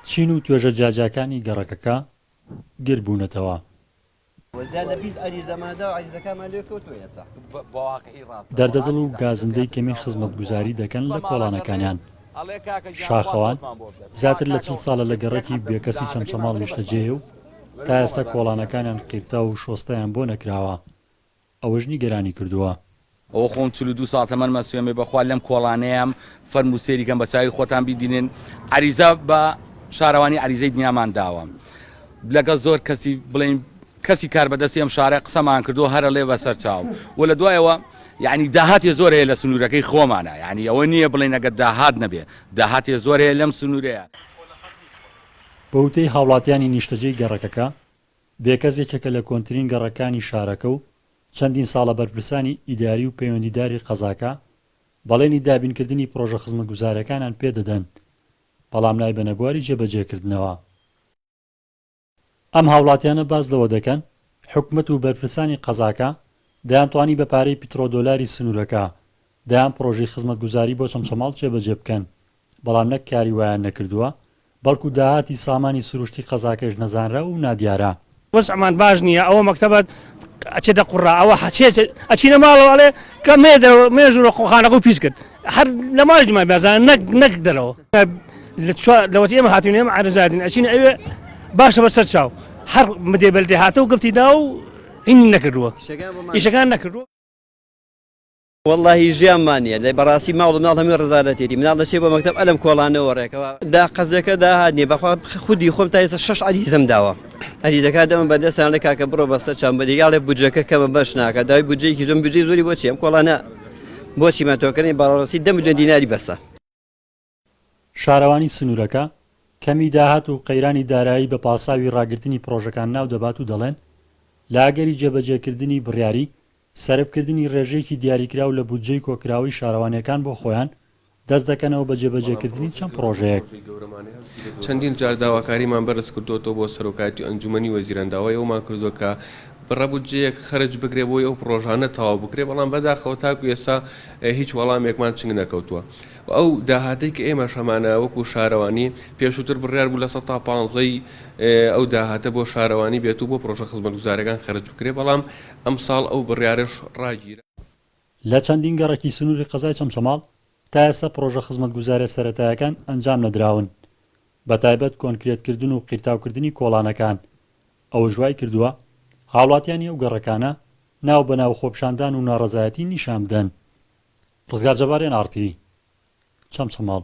چین و توێژە جیاجیاکانی گەڕەکەکە گر بوونەتەوە. دەردە دڵ و گازندەی کەمی خزمەتگوزاری دەکەن لە کۆڵانەکانیان. شاخەوان زیاتر لە چل ساڵە لە گەڕەکی بێکەسی چەمچەماڵ نیشتەجێیە و تا ئێستا کۆڵانەکانیان قیرتاو و شۆستەیان بۆ نەکراوە. ئەوەش نیگەرانی کردووە. ئەوە خۆم چل و دوو ساڵ تەمەنمە سوێمێ بەخوا لەم کۆڵانەیەم فەرموو سێری کەن بەچاوی خۆتان بیدینن عەریزە بە شارەوانی عەریزەی دنیامان داوە لەگەڵ زۆر کەسی بڵێین کەسی کاربەدەستی ئەم شارە قسەمان کردوە هەرە ڵێ بەسەر چاو و لە دوایەوە یەعنی داهاتی زۆر هەیە لە سنورەکەی خۆمانا یەعنی ئەوە نییە بڵێین ئەگەر داهات نەبێ داهاتی زۆر هەیە لەم سنورەیە. بە وتەی هاوڵاتیانی نیشتەجێی گەڕەکەکە، بێکەس یەکێکە لە کۆنترین گەڕەکانی شارەکە و چەندین ساڵە بەرپرسانی ئیداری و پەیوەندیداری قەزاکە بەڵێنی دابینکردنی پڕۆژە خزمەتگوزارییەکانیان پێ دەدەن، بەڵام نایبەنە بواری جێبەجێکردنەوە. ئەم هاوڵاتیانە باس لەوە دەکەن، حکومەت و بەرپرسانی قەزاکە دەیانتوانی بە پارەی پیتڕۆدۆلاری سنوورەکە دەیان پڕۆژەی خزمەتگوزاری بۆ چەمچەماڵ جێبەجێ بکەن، بەڵام نەک کاری وایان نەکردووە، بەڵکو داهاتی سامانی سروشتی قەزاکەش نەزانراو و نادیارە. وەزعمان باش نییە، ئەوە مەکتەبەت ئەچێتە قوڕا، ئەوە حەچێ ئەچینە ماڵەوە ئەڵێ کە مێ دەرەوە، مێ ژوورە قوڵخانەکەو پیس کرد، هەر لە ماڵیش نمای بازانە نەک نەک دەرەوە. لەوەتی ئێمە هاتووین، ئێمە عارەزاردین، ئەچینە ئەوێ باشە بە سەر چاو، هەر مدێ بەلدێ هاتە و گفتی دا و هینی نەکردووە، ئیشەکان نەکردووە. وەڵاهی ژیان مان نیە لە بەڕاستی ماڵو مناڵ هەمووی ڕەزالەتێتی مناڵ دەچێ بۆ مەکتەب ئەلەم کۆڵانەوە ڕێکەوە دا قەزێکە داهات نیە بەخوا خودی خۆم تا ئێستا شەش عەریزەم داوە ئەریزەکە دەمە بەردەستان لە کاکە بڕۆ بەسەر چام بەدی یاڵێ بجەکە کەمە بەش ناکە دای بجێکی زۆم بجێ زۆری بۆچی ئەم کۆڵانە بۆچی مەتۆکردنی بەڕاستی دەم دێ دیناری بەسە شارەوانی سنوورەکە، کەمی داهات و قەیرانی دارایی بە پاساوی ڕاگرتنی پڕۆژەکان ناو دەبات و دەڵێن، لە ئەگەری جێبەجێکردنی بڕیاری سەرفکردنی ڕێژەیەکی دیاریکراو لە بودجەی کۆکراوەی شارەوانییەکان بۆ خۆیان، دەست دەکەنەوە بە جێبەجێکردنی چەند پڕۆژەیەک. چەندین جار داواکاریمان بەرز کردووەتەوە بۆ سەرۆکایەتی ئەنجوومەنی وەزیران، داوای ئەوەمان کردووە کە بڕە بودجەیەک خەرج بکرێت بۆی ئەو پڕۆژانە تەواو بکرێت، بەڵام بەداخەوە تاکو ئێستا هیچ وەڵامێکمان چنگ نەکەوتووە. و ئەو داهاتەی کە ئێمەش هەمانە وەکو شارەوانی، پێشووتر بڕیار بوو لە سەد تا پانزەی ئەو داهاتە بۆ شارەوانی بێت و بۆ پڕۆژە خزمەتگوزارەکان خەرج بکرێت، بەڵام ئەمساڵ ئەو بڕیارەش ڕاگیرا. لە چەندین گەڕەکی سنووری قەزای چەمچەماڵ تا ئێستا پڕۆژە خزمەتگوزارییە سەرەتایەکان ئەنجام نەدراون، بەتایبەت کۆنکرێتکردن و قیرتاوکردنی کۆڵانەکان، ئەوەش وای کردووە هاوڵاتیانی ئەو گەڕەکانە ناو بە ناو خۆپیشاندان و ناڕەزایەتی نیشان بدەن ڕزگار جەباریان ئاڕتیڤی چەمچەماڵ.